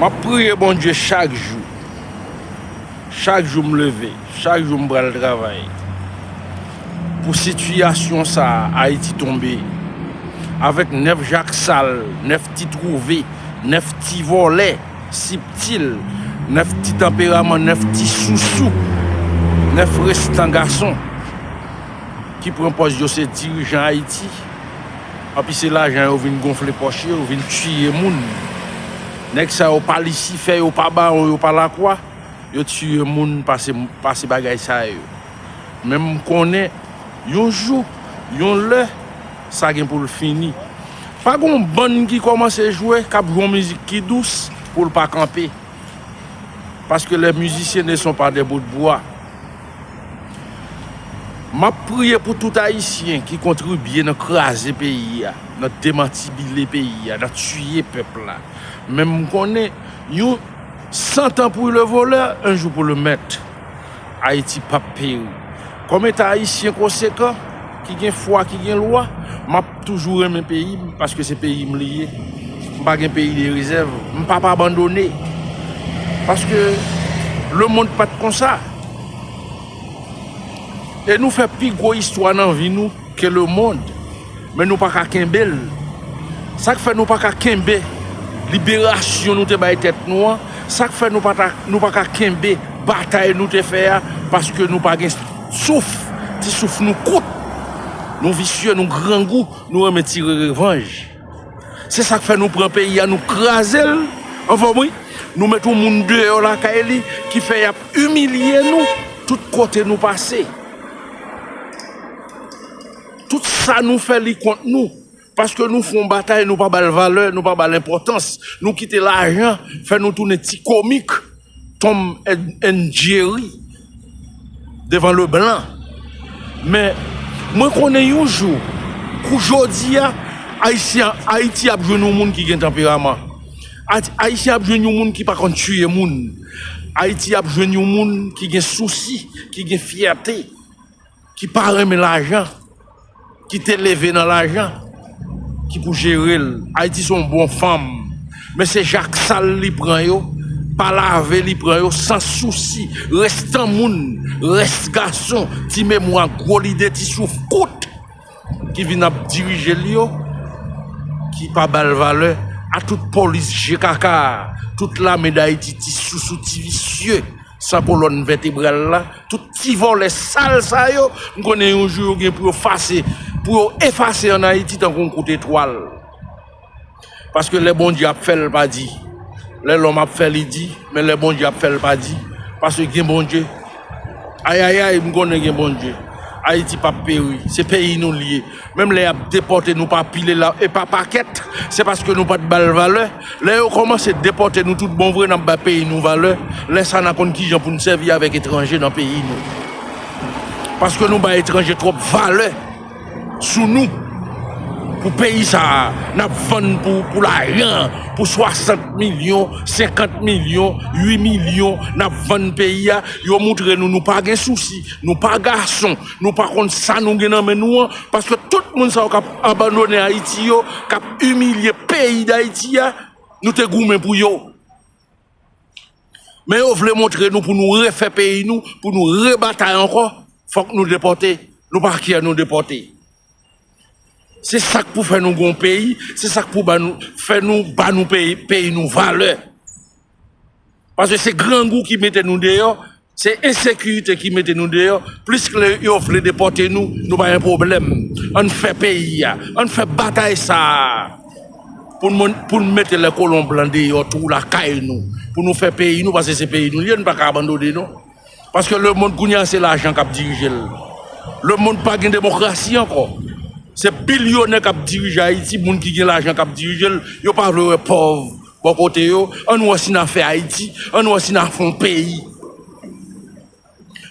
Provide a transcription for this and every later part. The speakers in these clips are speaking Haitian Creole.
Map priye Bondye chak jou. Chak jou m leve, chak jou m pral travay pou sitiyasyon sa Ayiti tonbe avèk 9 jak sal, 9 ti twouve, 9 ti vòlè siptil, 9 ti tanperaman, 9 ti sousou, 9 restan gason ki pran pòz yo se dirijan Ayiti. Anpi se lajan yo vin gonfle pòch yo vin tiye moun nèg sa yo pa lisifè yo pa bawon yo pa lakwa yo tiye moun pase bagay sa yo men m konnen yon jou yon lè sa gen pou l fini pa gon bann ki kòmanse jwe k ap jwe yon mizik ki dous pou l pa kanpe paske lè mizisyen ne son pa dè botbwa. Map priye pou tout ayisyen ki kontribye nan kraze peyi a, nan demantibile peyi a, nan tiye pèp la. Menm m konnen yon sant an pou le volè, en jou pou le mèt. Ayiti pap peri. Kòm eta ayisyen konsekan, ki gen fwa, ki gen lwa, map toujou renmen peyi m paske se peyi m li ye. M pa gen peyi de rezèv. M pap abandone. Paske lemond pat konsa. E nou fè pi gwo istwa nan vi nou ke le mond men nou pa ka kenbe l. Sa k fè nou pa ka kenbe liberasyon nou te bay tèt nou an, sa k fè nou pa ta nou pa ka kenbe batay nou te fè a paske nou pa gen souf, ti souf nou kout, nou visye, nou grangou, nou renmen tire revanj. Se sak fè nou pran peyi a nou krazel anfòm wi nou met yon moun deyò lakay li ki fè yap imilye nou tout kote nou pase tout sa nou fè li kont nou paske nou fon batay nou pa bal valè nou pa bal enpòtans nou kite lajan fè nou tounen ti komik Tom and Jerry devan le blan men mwen konnen yon jou kou jodi a Ayiti ap jwenn yon moun ki gen tanperaman Ayiti ap jwenn yon moun ki pa konn tiye moun Ayiti ap jwenn yon moun ki gen sousi ki gen fyète ki pa renmen lajan, ki te leve nan lajan, ki pou jere l. Ayiti se yon bon fèm, men se jak sal li pran yo, pa lave li pran yo, san sousi, restan moun, rès gason, ti memwa, gwo lide, ti souf kout, ki vin ap dirije l yo, ki pa ba l valè, a tout polis je kaka a, tout lame Dayiti, ti sousou, ti visye. San kolòn vètebral la, tout ti vòlè sal sa yo, m konnen yon jou yo gen pou yo fase, pou yo efase an Ayiti tankou yon kout etwal. Paske lè Bondye ap fè l pa di, lè lòm ap fè li di, men lè Bondye ap fè l pa di, paske gen Bondye. Ayayay m konnen gen Bondye. Ayiti pap peri, se peyi nou l ye. Menm lè yap depòte nou pa pile la e pa pakèt se paske nou pat bal valè lè yo kòmanse depòte nou tout bon vre nap bay peyi nou valè lè sa na konn kijan poun sèvi avèk etranje nan peyi nou paske nou bay etranje twòp valè sou nou pou peyi sa nap vann pou lajan pou 60 milyon 50 milyon 8 milyon nap vann peyi a yo moutre nou nou pa gen sousi nou pa gason Nou pa konn sa nou gen nan men nou an, paske tout moun sa yo kap abandone Ayiti yo, kap imilye peyi Dayiti a, nou te goumen pou yo. Men yo vle montre nou pou nou refè peyi nou, pou nou rebatay ankò, fòk nou depòte, nou pa kè nou depòte. Se sak pou fè nou gon peyi, se sak pou fè nou ba nou peyi nou valè. Paske se grangou ki mete nou deyò, se ensekirite ki mete nou deyò, pliske lè yo vle depòte nou, nou pa gen pwoblèm. An n fè peyi a, an n fè batay sa a pou n mete lè kolon blan deyò tou lakay nou, pou nou fè peyi nou paske se peyi nou li ye, nou pa ka abandone non. Paske lemonn kounye a se lajan k ap dirije l. Lemonn pa gen demokrasi ankò. Se bilyonè k ap dirije Ayiti, moun ki gen lajan k ap dirije l, yo pa vle wè pòv. Bò kote yo, ann wè si n a fè Ayiti, ann wè si n a fè yon peyi.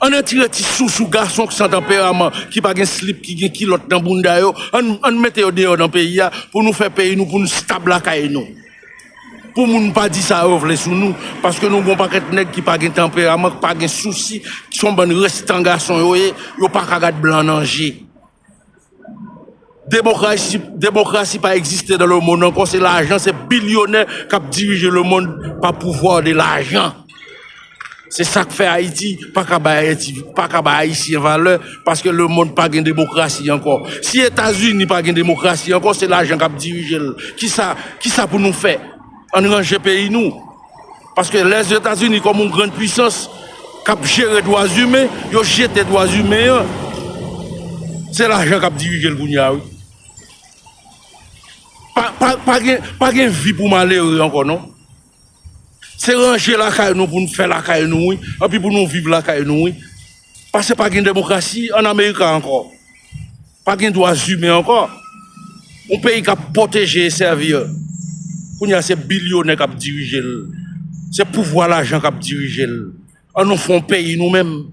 Ann retire ti sousou gason san tanperaman ki pa gen slip, ki gen kilòt nan bounda yo, ann mete yo deyò nan peyi a pou nou fè peyi nou, pou nou stab lakay nou. Pou moun pa di sa yo vle sou nou, paske nou gen yon pakèt nèg ki pa gen tanperaman, ki pa gen sousi, ki son bann restan gason yo ye, yo pa ka gad blan nan je. Demokrasi pa egziste nan le mond ankò se lajan se bilyonè kap dirije le mond pa pouvwa de lajan se sak fè ayiti paka bay ayiti paka bay ayisyen valè paske le mond pa gen demokrasi ankò si etazini pa gen demokrasi ankò se lajan kap dirije l kisa kisa pou nou fè ann ranje peyi nou. Paske Lèzetazini kòm yon grann pwisans k ap jere dwazimen, yo jete dwazimen an. Se lajan k ap dirije l kounye a wi. Pa gen vi pou malere ankò non. Se ranje lakay nou pou n fè lakay nou wi, epi pou nou viv lakay nou wi. Pase pa gen demokrasi an America ankò. Pa gen dwa zimen ankò. Yon peyi k ap pwoteje e sèvi yo, kounye a se bilyonè k ap dirije l. Se pouvwa lajan k ap dirije l. An nou fè yon peyi nou menm.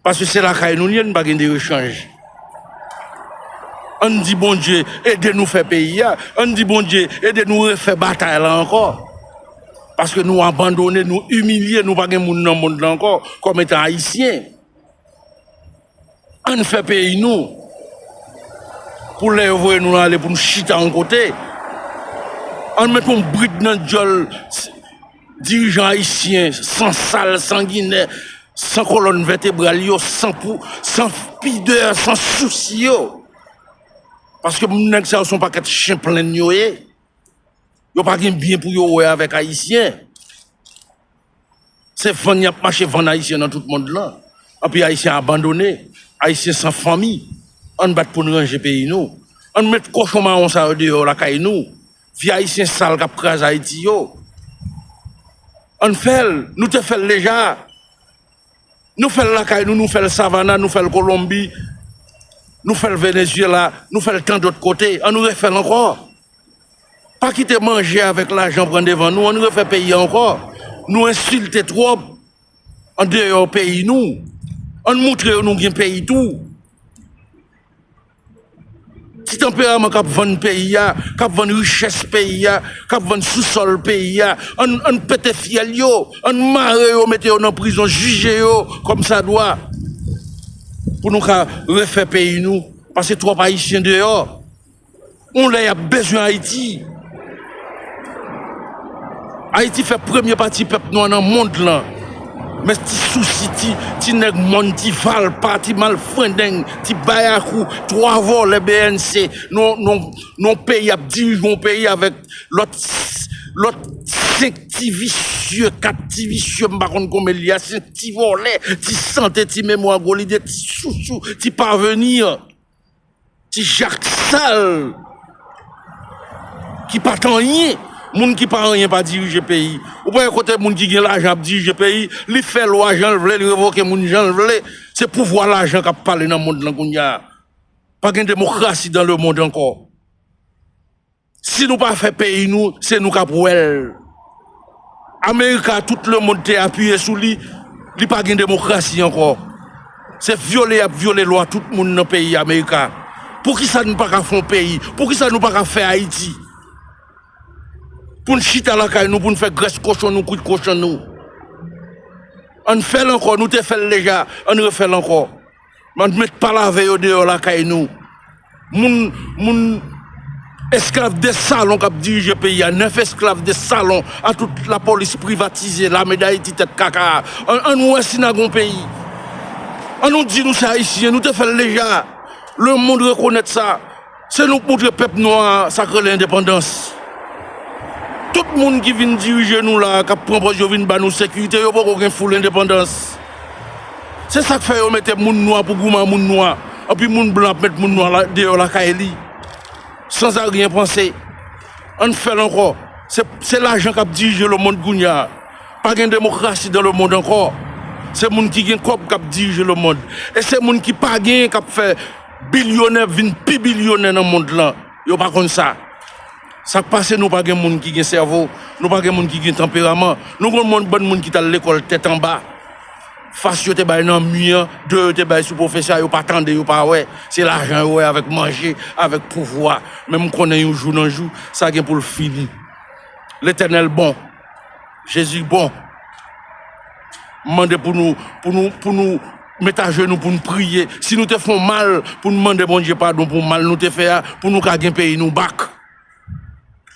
Pase se lakay nou li ye, nou pa gen de rechanj. An n di Bondye ede nou fè peyi a. An n di Bondye ede nou refè batay la ankò. Paske nou abandone, nou imilye, nou pa gen moun nan mond lan ankò kòm etan ayisyen. Ann fè peyi nou pou lè yo voye nou ale pou nou chita yon kote. Ann met yon brid nan dyòl dirijan ayisyen san sal, sanginè, san kolòn vètebral yo, san pidè, san sousi yo. Paske nèg sa yo se yon pakèt chen plenn yo ye. Yo pa gen byen pou yo wè avèk ayisyen. Se vann y ap mache vann ayisyen nan tout mond lan. Anpi ayisyen abandone, ayisyen san fanmi. Ann bat pou n ranje peyi nou. Ann met kochon mawon sa yo deyò lakay nou. Vye ayisyen sal k ap kraze Ayiti yo. Ann fè l, nou te fè l deja. Nou fèl lakay nou, nou fèl Savana, nou fèl Kolonbi, nou fèl Venezyela, nou fèl tan dòt kote, an nou refèl ankò. Pa kite manje avèk lajan pran devan nou, an nou refè peyi a ankò. Nou ensilte twòp andeyò peyi nou, an nou moutre yo nou gen peyi tou. Ti tanperaman kap vann peyi a, kap vann richès peyi a, kap vann sou sòl peyi a, ann pete fyèl yo, ann mare yo mete yo nan prizon jije yo kòmsadwa pou nou ka refè peyi nou pase twòp ayisyen deyò yon lè yap bezwen ayiti. Ayiti fè premye pati pèp nwa nan mond lan men ti sousi ti nèg mòn ti valpa ti malfrendeng ti bayakou 3 vòlè bnc nan peyi ap dirije yon peyi avèk lòt 5 ti visye 4 ti visye m pa konn konbyen li a 5 ti vòlè ti sante ti memwa gwo lide ti sousou ti pavenir. Ti jak sal ki pat anyen. Moun ki pa anyen pa dirije peyi. Ou pa wè kote moun ki gen lajan ap dirije peyi. Li fè lwa jan l vle, li revoke moun jan l vle. Se pouvwa lajan k ap pale nan mond lan kounye a. Pa gen demokrasi dan lemond ankò. Si nou pa fè peyi nou se nou kap wèl. America tout le monde te apiye sou li, li pa gen demokrasi ankò. Se vyole yap vyole lwa tout moun nan peyi America. Poukisa nou paka fon peyi, poukisa nou paka fè Ayiti. Poun chita lakay nou poun fè grès kochon nou kwit kochan nou. Ann fèl ankò nou te fèl deja ann refèl ankò. Bann mèt pa lave yo deyò lakay nou. Moun moun esklav de salon kap dirije peyi a 9 esklav de salon a tout la polis privatize lame dayiti tèt kaka a an nou wè si na gon peyi an nou di nou se ayisyen nou te fèl deja le mond rekonèt sa. Se nou k moutre pèp nwa a sak rele endepandans. Tout moun ki vin dirije nou la a kap pran pòz yo vin ba nou sekirite yo poko gen full endepandans. Se sak fè yo mete moun nwa pou gouman moun nwa anpi moun blan ap met moun nwa deyò lakay li sans a rien panse. Ann fèl ankò se lajan kap dirije le mond kounya a. Pa gen demokrasi dan le mond ankò. Se moun ki gen kòb kap dirije le mond e se moun ki pa gen kap fè. Bilyonè ap vin pi bilyonè nan mond lan, yo pa konn sa. Sak pase nou pa gen moun ki gen sèvo, nou pa gen moun ki gen tanperaman. Nou konn moun bann moun ki tal lekòl tèt anba. Fas yo te bay nan mi an, de yo te bay sou pwofesè a yo pa tande yo pa wè. Se lajan yo wè avèk manje, avèk pouvwa. Men m konnen yon jou nan jou sa gen pou l fini. Letènèl bon. Jezi bon. M mande pou nou pou nou pou nou met ajenou pou nou priye. Si nou te fon mal pou nou mande Bondye padon pou mal nou te fè a pou nou ka gen peyi nou bak.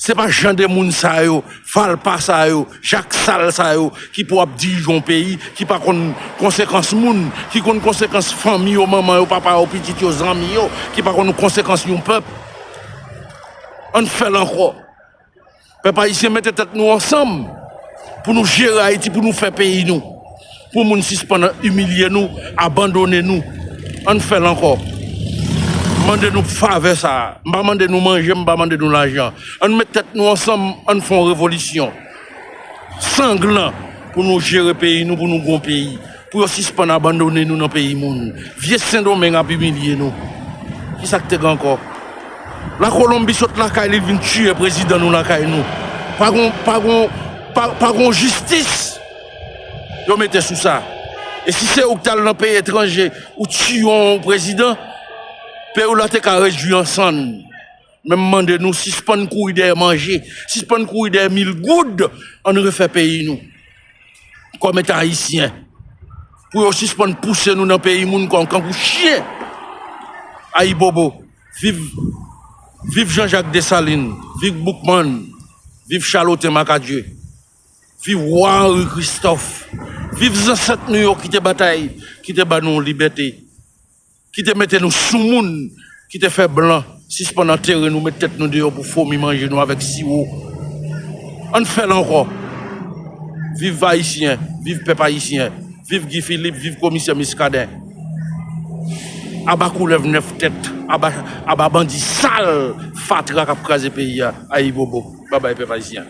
Se pa jan de moun sa yo, falpa sa yo, jak sal sa yo ki pou ap dirije yon peyi ki pa konn konsekans moun, ki konn konsekans fanmi yo, manman yo, papa yo, pitit yo, zanmi yo, ki pa konn konsekans yon pèp. An fè l ankò. Pèp ayisyen mete tèt nou ansanm pou nou jere Ayiti, pou nou fè peyi nou, pou moun sispann imilye nou, abandone nou. Ann fè l ankò. M mande nou favè sa a. M pa mande nou manje, m pa mande nou lajan. Ann met tèt nou ansanm, ann fè yon revolisyon sanglan pou nou jere peyi nou, pou nou gen yon peyi. Pou yo sispann abandone nou nan peyi moun. Vye sendomeng ap imilye nou. Kisa k te gen ankò? La kolonbi sot lakay li li vin tiye prezidan nou lakay nou. Pa gon, pa gon, pa, pa gon jistis yo mete sou sa. E si se ou k t al nan peyi etranje ou tiye yon prezidan, peyi w la te ka redui an sann. Men m mande nou sispann kouri dèyè manje, sispann kouri dèyè mil goud, ann refè peyi nou kòm etan ayisyen pou yo sispann pouse nou nan peyi moun kòm kankou chyen. Ayibobo! Viv Viv Jean Jacques Dessalines! Viv Boukman! Viv Charlotin Macadieu! Viv Roi Henri Christophe! Viv zansèt nou yo ki te batay, ki te ba nou libète! Ki te mete nou soumoun, ki te fè blan sispann antere nou, met tèt nou deyò pou fomi manje nou avèk siwo. Ann fè l ankò! Viv Ayisyen, viv pèp Ayisyen, viv Guy Philippe, viv komisè Muscadin. Aba koulèv 9 tèt, aba aba bandi sal, fatra k ap kraze peyi a. Ayibobo! Babay pèp Ayisyen!